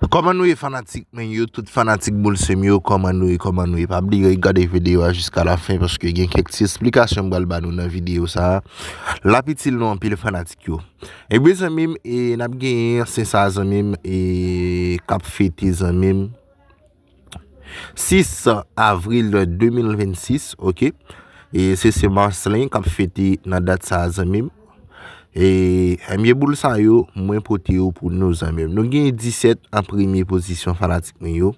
Kòman nou ye fanatik mwen yo tout fanatik boul sem yo kòman nou ye kòman nou ye pa bliye gade videyo a jiska la fen paske gen kèk ti esplikasyon m pral ba nou nan videyo sa lap itil nou anpil fanatik yo ebyen zanmi m e nap genyen se sa zanmi m e kap fete zanmi m. 6 avril 2026 ok e se se Marcelin kap fete nan dat sa zanmim e ebyen boul sa yo mwen pote yo pou nou zanmim nou gen 17 an premye pozisyon fanatik mwen yo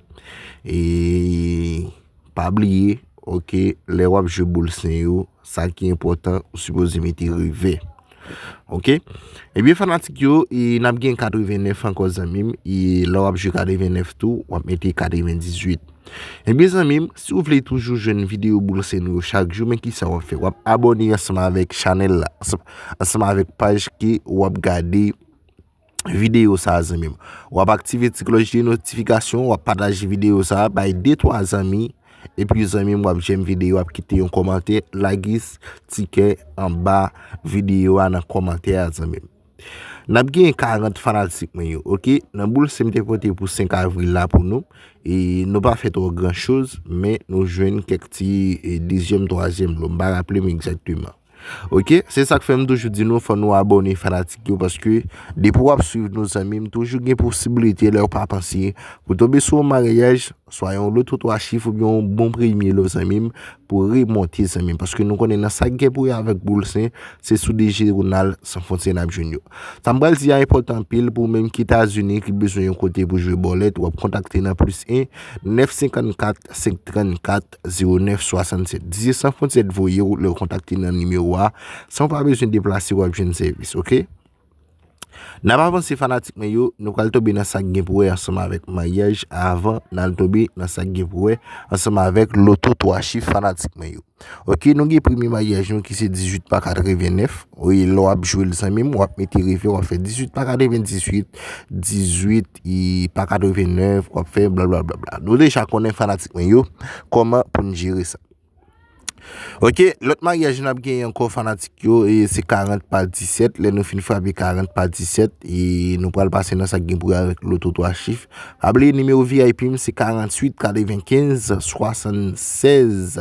e pa bliye ok lè wap jwe boul se yo Sa ki enpòtan ou sipoze mete revè. Ok Ebyen fanatik yo e nap gen 89 ankò zanmim e lè wap jwe 89 tou wap mete 98 Ebyen zanmim si ou vle toujou jwenn videyo boul sène yo chak jou men kisa wap fè wap abòne ansanm avèk chanèl la ansanm avèk paj ke wap gade videyo sa zanmim. Wap aktive ti klòch de notifikasyon, wap pataje videyo sa bay 2 3 zanmi epi zanmim wap jèm videyo wap kite yon kòmantè lage ti kè anba videyo a nan kòmantè a zanmim. Nap gen 40 fanatik mwen yo ok nan boul sim te pote pou 5 avril la pou nou e nou pa fè twò gran choz men nou jwenn kèk ti 2 zièm 3 zièm lò m pa raplem egzakteman. Ok se sak fèm toujou di nou fò nou abòne fanatik yo paske depi wap swiv nou zanmim toujou gen posibilite lèw pa panse pou tonbe sou yon maryaj swa yon loto 3 chif oubyen yon bon premye lò zanmim pou remonte zanmim paske nou konnen nan sak gen pou wè avèk boul sen se sou dijeronal san fwontye nap jwenn yo sam pral di a enpòtan anpil pou menm ki etazini ki bezwen yon kote pou jwe bòlèt wap kontakte nan plis 1 9 54 5 34 09 67 18 san fontyè t voye ou lè ou kontakte nan nimewo a san ou pa bezwen deplase wap jwenn sèvis ok nap avanse fanatik mwen yo nou pral tonbe nan sak gen pou wè ansanm avèk maryaj avan nan tonbe nan sak gen pou wè ansanm avèk loto 3 chif fanatik mwen yo ok nou gen premye maryaj nou ki se 18 pa 89 wi lè wap jwel zanmim wap mete reve wap fè 18 pa 98 18 i pa 89 wap fè bla bla bla bla nou deja konnen fanatik mwen yo koman pou nou jere sa ok lòt maryaj nou ap gen yon kò fanatik yo e se 40 pa 17 lè nou fin frape 40 pa 17 e nou pral pase nan sa gen pou avèk loto 3 chif pa bliye nimewo vip m se 48 95 76